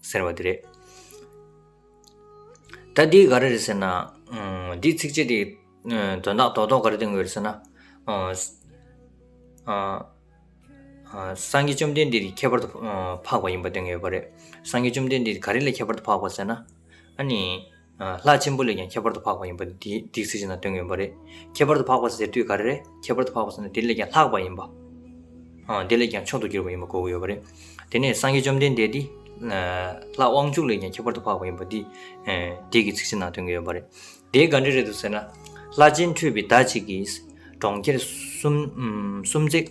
ཟེར་བ་དེ་རེད། ད་འདི་ག་རེ་རེད་ཟེར་ན། འདིའི་ཚིགས་བཅད་དེ་དོན་དག་དོག་དོག་ག་རེ་བསྟན་དགོས་རེད་ཟེར་ན། སངས་རྒྱས་བཅོམ་ལྡན་འདས་དེ་ཁྱད་པར་དུ་འཕགས་པ་ཡིན་པ་བསྟན་གྱི་ཡོད་པ་རེད། སངས་རྒྱས་བཅོམ་ལྡན་འདས་དེ་ག་རེ་ལས་ཁྱད་པར་དུ་འཕགས་པ་ཟེར་ན། ཨ་ནི། ལྷ་ཆེན་པོ་ལས་ཀྱང་ཁྱད་པར་དུ་འཕགས་པ་ཡིན་པ་འདི་སྡིག་ཚིག་ཅིག་ན་སྟོན་གྱི་ཡོད་པ་རེད། ཁྱད་པར་དུ་འཕགས་པ་ཟེར་དུས་ག་རེ་རེད་ཁྱད་པར་དུ་འཕགས་པ་ཟེར་ན་དེ་ལས་ཀྱང་ལྷག་པ་ཡིན་པ། དེ་ལས་ཀྱང་མཆོག་ཏུ་གྱུར་པ་ཡིན་པ་གོ་གི་ཡོད་པ་རེད། དེ་ནས་སངས་རྒྱས་བཅོམ་ལྡན་འདས་འདི། ལྷ་དབང་ཕྱུག་ལས་ཀྱང་ཁྱད་པར་དུ་འཕགས་པ་ཡིན་པ་འདི། སྡིག་གི་ཚིག་ཅིག་ན་སྟོན་གྱི་ཡོད་པ་རེད། དེ་ག་འདྲ་རེད་དོ་ཟེར་ན། ལྷ་སྤྱན་འཕྲོས་པའི་ཟླ་གཅིག་གིས། གྲོང་ཁྱེར་སུམ་བརྩེགས།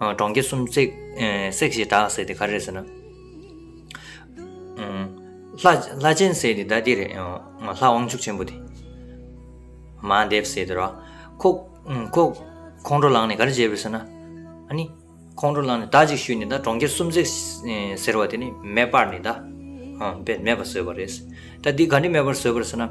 གྲོང་ཁྱེར་གསུམ་བསྲེགས། བསྲེགས་ཞེས་གྲགས་ཟེར་དེ་ག་རེད་ཟེར་ན། ལྷ་ཆེན་ཟེར་དེ་ད་འདི་རེད། ལྷ་དབང་ཕྱུག་ཆེན་པོ་དེ། མ་འདེབས་ཟེར་དེ་ར། ཁོ་ཁོང་ཁྲོ་ལངས་ནས་ག་རེ་བྱས་པས་ཟེར་ན། ཨ་ནི། ཁོང་ཁྲོ་ལངས་ནས་ད་ཅིག་ཞུས་ནས་ད་གྲོང་ཁྱེར་གསུམ་བསྲེགས་ཟེར་བ་དེ་ནི་མེ་སྤར་ནས་ད། མེ་སྤར་བཟོས་པ་རེད། ད་འདི་ག་འདྲའི་མེ་སྤར་བཟོས་པ་རེད་ཟེར་ན།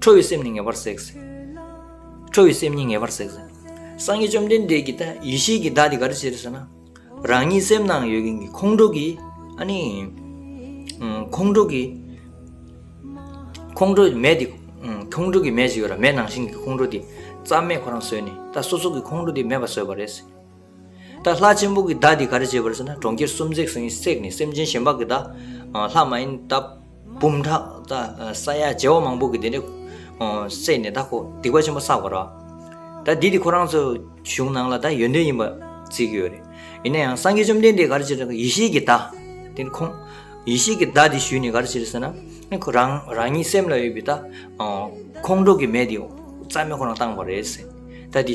ཁྲོ་བོའི་སེམས་ནི་ངེས་པར་བསྲེགས། ཁྲོ་བོའི་སེམས་ཉིད་ངེས་པར་བསྲེགས། སངས་རྒྱས་བཅོམ་ལྡན་འདས་ཀྱིས་ཡེ་ཤེས་ཀྱི་བདག་འདི་ག་རེ་བྱེད་ཟེར་ན། རང་ཉིད་སེམས་ནང་ཡོད་མཁན་གྱི་ཁོང་ཁྲོ་གིས་ཨ་ནི། ཁོང་ཁྲོ་གིས། ཁོང་ཁྲོ་མེ་དེ། ཁོང་ཁྲོ་གི་མེ་ཞིག་ཡོད་ལ་མེ་ནང་བཞིན་གྱི་ཁོང་ཁྲོ་དེ། རྩ་མེད་ཁོ་རང་བཟོས་ནས་ད་སོ་སོ་གི་ཁོང་ཁྲོ་དེ་མེད་པ་བཟོས་པ་རེད། ད་ལྷ་ཆེན་པོ་གི་བརྡ་འདི་ག་རེ་བྱེད་པར་ཟེར་ན་གྲོང་ཁྱེར་གསུམ་བརྩེགས་ཟིན་གྱི་སྲེག་ནས་སེམས་ཅན་གཞན་དཔག་གི་བརྡ། ལྷག་མ་ཡིན་ད་བུམ་ཕྲག་ད་ས་ཡ་བརྒྱད་བ་མང་པོ་གི་དེ་འདྲས་བསྲེགས་ནས་ད་ཁོ་སྡིག་པ་ཆེན་པོ་བསགས་པར་རོ། ད་འདི་དེ་ཁོ་རང་ཚོའི་གཞུང་ནང་ལ་ད་ཡོན་ཏན་ཡིན་པར་བརྩི་གི་ཡོད་རེད། ཡིན་ན་ཡང་སངས་རྒྱས་བཅོམ་ལྡན་འདས་ག་རེ་བྱེད་ཡེ་ཤེས་ཀྱི་བརྡ། དེ་ནི་ཁོང་ཡེ་ཤེས་ཀྱི་བརྡ་འདི་ཞུས་ནས་ག་རེ་བྱེད་ཟེར་ན། ཁོ་རང་རང་ཉིད་སེམས་ལ་ཡོད་པའི་ད་ཁོང་ཁྲོ་གི་མེ་དེ་རྩ་མེད་ཁོ་རང་བཏང་བ་རེད། ད་འདི།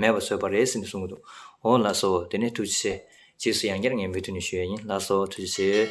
མེད་པར་བཟོས་པ་རེད་ཟེར་ནས་གསུངས་ཀྱི་འདུག་ཨོ་ལགས་སོ་དེ་ནས་ཐུགས་རྗེ་ཆེ། རྗེས་སུ་ཡང་བསྐྱར་ངས་མོས་མཐུན་ནས་ཞུ་ཡས་ཡིན་ལགས་སོ་ཐུགས་རྗེ་ཆེ།